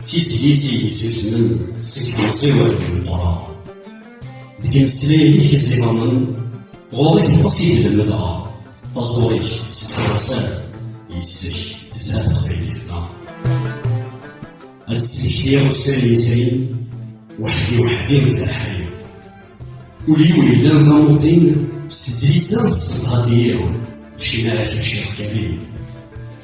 d tizlit i yettusmen seg temẓiwert n Meqqran. Deg imeslayen i k-iẓimanen, ɣur-i teqqes i d-lemdeɣ, taẓuri-k sseḥrasan, yes-k tezha teqbaylit-nneɣ. Ad d-ssektiɣ ussan yezrin, weḥd-i weḥd-i d leḥri. Ul-iw yellan d amuṭin, s tezlit-a tessenqad-iyi, ccna-k a Ccix Karim.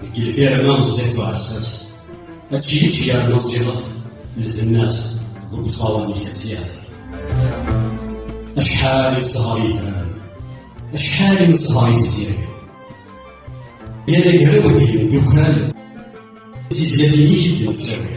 Deg lfirma n Ẓid Buɛessas, ad tjiyyiǧ yerna ẓilet lbenna-s deg uẓawan-ik ad tt-yaf. Acḥal i nesher yetran, acḥal i nesher yezzirig. Yal agraw d yimdukal d tizlatin-ik i d-nettawi.